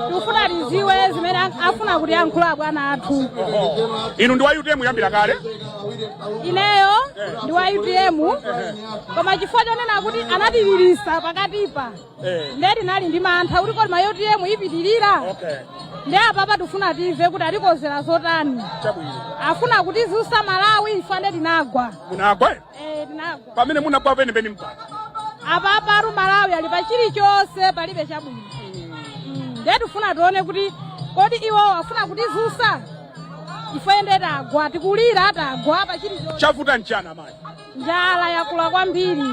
tikufuna tiziwe zimene afuna kutiyankhula abwana athu inu ndi wa utm kuyambira kale ineyo ndi wa utm koma chifukwa chonena kuti anatililisa pakatipa nde tinali ndi mantha kuti kodi kapena utm ipitirira nde apapa tifuna timve kuti atikozera zotani afuna kutizusa malawi ife nde tinagwa munagwa Eh, tinagwa. pamene munagwa penipeni mpaka Apapa Malawi ali pa chilichonse palibe chabwino. Mm, Ndiye tifuna tione kuti kodi iwo afuna kutizusa. Ife ndiye tagwa tikulira tagwa pa chilichonse. chavuta n'chani amayi Njala yakula kwambiri.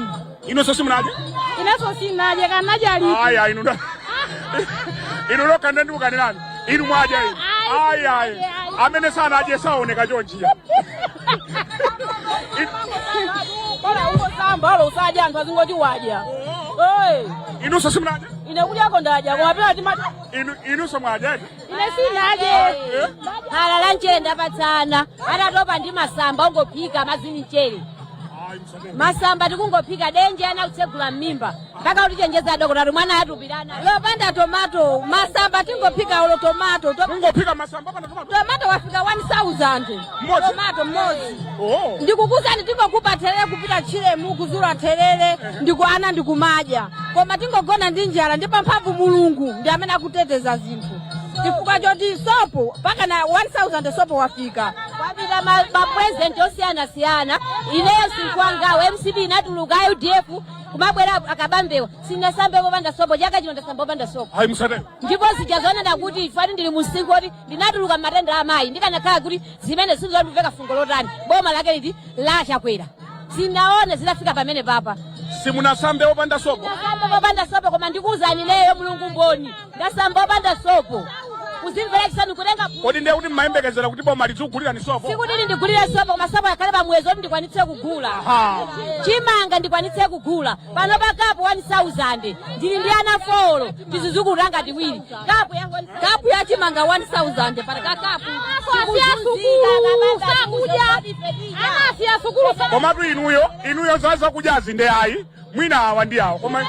inunso simunadye Inenso sinadye kanadye ali. ayi ayi inuyo inu nokha nde ndikukanirani inu mwadya inu ayi ayi amene sanadye saoneka chonchiya inuso simunaja ine kudyako ndaja koma pena timati inu inuso mwajaje ine sinaje khala la nchere ndapatsana tatopa ndi masamba ongophika madzi ni mchere ayi msabeni masamba tikungophika denje ana kutsegula m'mimba mpaka kutichenjeza adokotala mwana atupikana lopanda tomato masamba tingophika ulo tomato to- ungophika masamba panda tomato tomato wafika 1000 Mmodzi? tomato mmodzi oh. ndikukuuzani tingokupa therere kupita tchire umu kuzula therere ndi ana ndikumadya koma tingogona ndi njala ndi mphamvu mulungu ndi amene akuteteza zinthu chifukwa choti sopo mpaka na 1000 sopo wafika wapita ma- mapurezidenti osiyanasiyana ineyo sinkwangawo mcp inatuluka udf kumabwera akabambewa sinasambepo opanda sopo chaka chino ndasambapo opanda sopo ayi musatero ndipo zija zonena kuti ifati ndili mumsinkhu woti ndinatuluka m'matenda a amayi ndikanakhala kuti zimenezizo ndimveka fungo lotani boma lake liti la chakwera sinaone zinafika pamenepapa simunasambe opanda sopo ndasambapo opanda sopo koma ndikuwuzani ineyo mulungu mboni ndasamba opanda sopo kuzimvera chisanu kutenga kodi ndiye kuti mmayembekezera kuti boma lidzikugulirani sopo sikuti lindigulire sopo koma sopo akhale pa muyezo oti ndikwanitse kugula Aha. chimanga ndikwanitse kugula pano pa kapu 1000 ndili ndi ana folo tizizukulu tanga tiwiri kapu ya kapu ya chimanga 1000 pano ka kapu komatu inuyo inuyo za zakudyazi nde ayi mwina awa ndi awa koma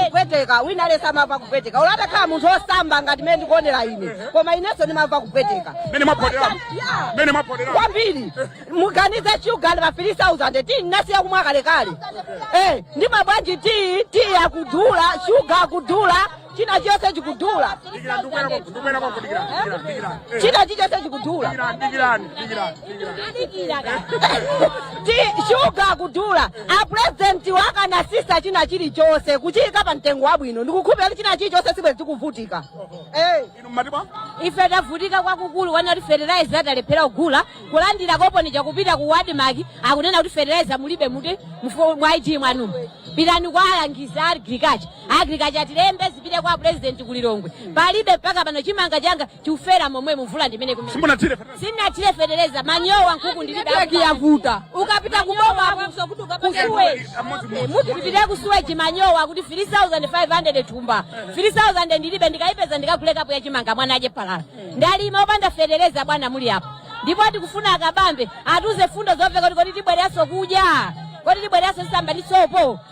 kupweteka wina aliyese amamva kupweteka ulo atakhala munthu osamba ngati mene ndikuonekera ine koma inenso ndimamva kupweteka mene mwaphodera Yeah. mene mwaphodera kwambiri muganize shuga ndi pa 3000 ti nasiya kumwa kalekale Eh, ndi mabwanji ti ti akudula shuga akudula china chonse chikudula Dikirani, ndikubwera kwa- ndikubwera kwako, dikirani, dikirani, dikirani. Eh, china chonse chikudula dikirani, dikirani, dikirani, dikirani. ti shuga akudula apurezidenti akanatsitsa china chilichonse kuchiyika pa mtengo wabwino ndikukhupira kuti china chilichonse sibwezi tikuvutika Eh. Inu mmati bwa? ife tavutika kwakukulu kunena kuti fertilizer talephera kugula kulandira koponi chakupita ku ADMARC akunena kuti fertilizer mulibe muti mufu- mwa ID mwanumu pitani kwa alangizi a agriculture agriculture atilembe zipite kwa president ku Lilongwe palibe mpaka pano chimanga changa chikufera momwe mvula ndimene kumene sinathire fertilizer manyowa nkhuku ndilibe yavuta ukapita kuboma afunso kuti ukapanga kusuweji mutipitire kusuweji manyowa kuti 3500 thumba 3000 ndilibe ndikayipeza ndikagule kapu ya chimanga mwana adye phala ndalima opanda fetereza bwana muli apo ndipo tikufuna a Kabambe atiuze mfundo zomveka kuti kodi tibwereranso kudya kodi tibwereranso samba ndi sopo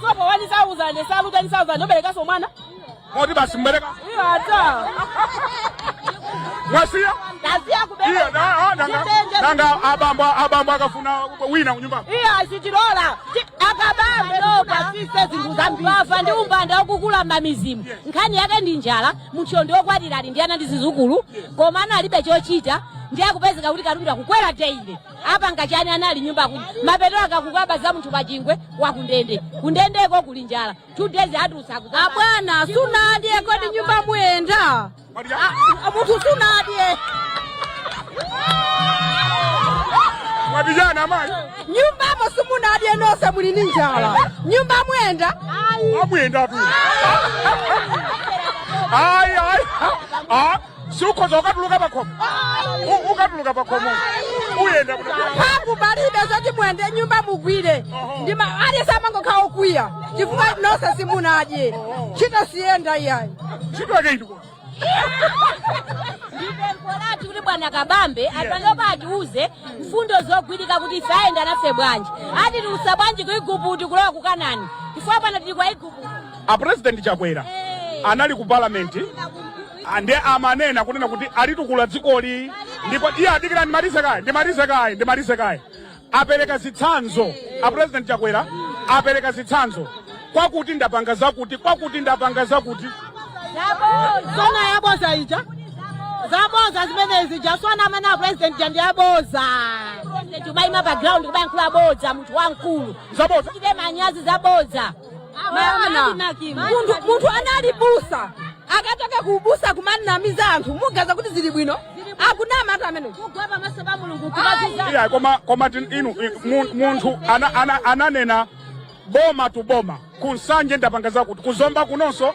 Sopo 1000, nsalu 10000, ndoberekaso mwana. Moti basi mbereka. Iyo ata. Mwasiya? Tasiya kubereka. Iyo da ah, nanga. Nanga abambo abambo akafuna wina kunyumba. Iyo sitilola. A Kabambe akatsitse zinthu zambiri. Umbava ndi umbanda ukukula m'mamidzimu. Nkhani yake ndi njala, munthuyo ndi okwatira ali ndi ana ndi zizukulu, komano alibe chochita. Ndiye akupezeka kuti katundu akukwera daily. apanga chani ana ali nyumba kuti mapeto ake akukaba za munthu pachingwe wa kundende kundendeko kuli njala two days atutsa abwana sunadye kodi nyumba muyenda munthu sunadye mwapijana amayi nyumbamo simunadye nonse muli ndi njala nyumba muyenda amuyenda tu ayi ayi siukhoza ukatuluka pakhomo U- ukatuluka pakhomo uyenda kuti mphamvu palibe zoti muyende nyumba mugwire ndima aliyense amangokhala okwiya chifukwa nonse simunadye ntchito siyenda iyayi ntchito yake itiyo ndipempho lathu kuti bwana kabambe apanopa atiuze mfundo zogwirika kuti ife ayenda nafe bwanji atitulutsa bwanji ku iguputi kulowa ku kanani chifukwa pano tili kwa iguputi A president Chakwera anali ku parliament ah, nde amanena kunena kuti alitukula dzikoli ndipo iyayi dikira ndimalize kaye ndimalize kaye ndimalize kaye apereka zitsanzo a president Chakwera apereka zitsanzo kwakuti ndapanga zakuti kwakuti ndapanga zakuti zona yaboza ija zaboza zimenezi jaswana amene a president ja ndi yaboza kubayima pa ground kubayankhula bodza munthu wamkulu zaboza achite manyazi zaboza Maona, munthu munthu anali m'busa akachoka kuubusa kumanamiza anthu muganiza kuti zili bwino akunama anthu amene kugwa pamaso pa mulungu kubaziza iya koma koma tin- inu i- mu- munthu ana- ana- ananena boma tu boma ku Nsanje ndapanga zakuti ku Zomba kunonso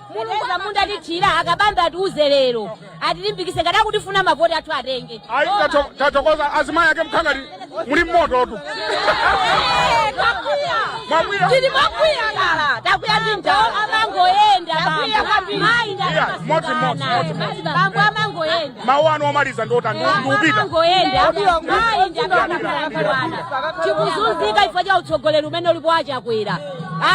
mulungu amudalitsira akabambe atiuze lero atilimbikise ngati akutifuna mavoti athu atenge ayi tato- tathokoza azimayi ake nkhani ngati muli mmoto tu mwakwiya tili mwakwiya kala takwiya ndi njala amangoyenda mayi Iya, modzi, modzi, modzi, modzi. bambo amangoyenda mawu anu omaliza ndiotani ndipita amangoyenda mayi ndakakakakakwana chikuzunzika chifukwa cha utsogoleri umene ulipo wachakwera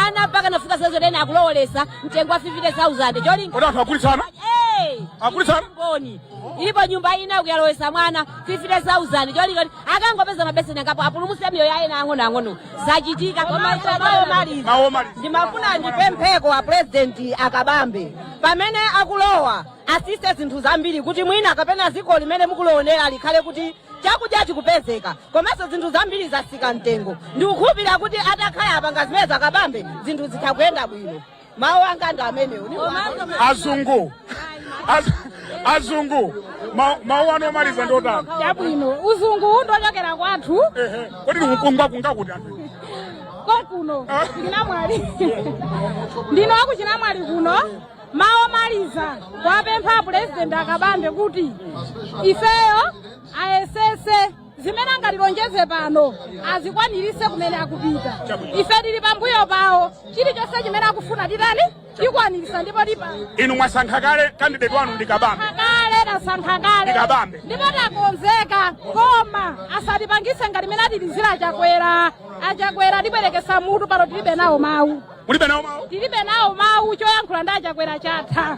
ana mpaka nafika sezonena akulowolesa mtengo wa 50000 cholinga kodi anthu agulitsana Hey! Agulitsana? Mboni. Ilipo nyumba ina ukuyalowesa mwana 50000 cholinga kuti akangopeza mabeseni angapo apulumuse miyoyo ya ena ang'ono ang'ono zachitika koma ife mawu omaliza mawu omaliza ndimafuna ndipempheko a purezidenti akabambe pamene akulowa atsitse zinthu zambiri kuti mwina kapena dziko limene mukulionera likhale kuti chakudya chikupezeka komanso zinthu zambiri zatsika mtengo ndikukhulupirira kuti atakhala apanga zimene akabambe zinthu zitha kuyenda bwino mawu anga ndi amenewo azungu Az- azungu ma- mawu anu omaliza ndotani chabwino uzungu ndochokera kwathu Ehe. kodi ndikukungwa kungakuti anthu konkuno ku chinamwali ndinu akuchinamwali kuno mawu omaliza kuwapempha pulezidenti akabambe kuti ifeyo ayesese zimene angatilonjeze pano azikwanirise kumene akupita ife tili pambuyo pawo chilichonse chimene akufuna titani tikwanirisa ndipo tipa inu mwasankha kale kandideti wanu ndi kabambe kale tasankha kale ndi kabambe. ndipo takonzeka koma asatipangise ngati mene atilizira achakwera achakwera atibwerekesa mutu pano tilibe nawo mawu mulibe nawo mawu tilibe nawo mawu choyankhula ndi achakwera chatha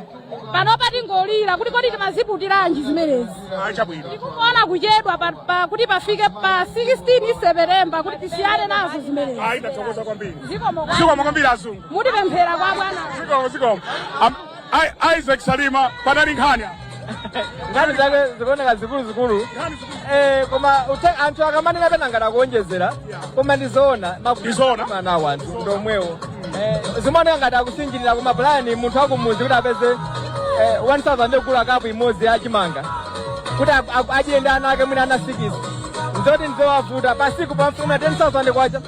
panopa tingolira kuti kodi timaziputiranji zimenezi a chabwino tikuona kuchedwa pa, pa, kuti pafike pa 16 sepetemba kuti tisiyane nazo zimenezi ayi ndathokoza kwambiri zikomo kwa- zikomo kwambiri azungu mutipemphere kwa bwana zikomo zikomo Am- I- isaac salima panali nkhani apa. nkhani zake zikuoneka zikuluzikulu eh, koma uthe- anthu akamanena pena ngati akuonjezera koma ndizoona Ndizoona. mavuto a anthu ndomwewo Eh, zimaoneka ngati akusinjirira kuma plain munthu akumuzi kuti apeze eh, 1000 yogula kapu imodzi ya chimanga kuti a- a- adyere ndi ana ake mwina ana sikisi nzoti nzowavuta pasiku pamafuna 10000 kwacha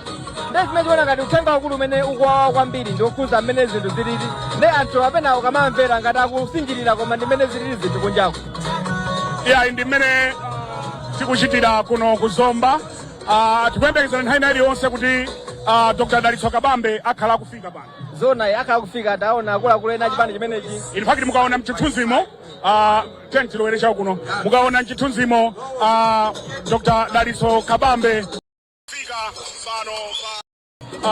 nde zimene zikuona ngati uthenga wakulu umene ukuwawa kwambiri ndi wokhuza mmene zinthu zilili nde anthu pena ukamawamvera ngati akusinjirira koma ndi mmene zilili zinthu kunjako iyayi ndi mmene tikuchitira kuno ku zomba Ah, tikuyembekezera nthawi ina iliyonse kuti ah, dr dalitso kabambe akhala akufika pano zoona akhala akufika taona akuluakulu ena achipani chimenechi in fact mukaona mchithunzimo ah, Tiyeni tilowere chakuno mukaona mchithunzimo a ah, Dr. Dalitso Kabambe afika pano pa ah,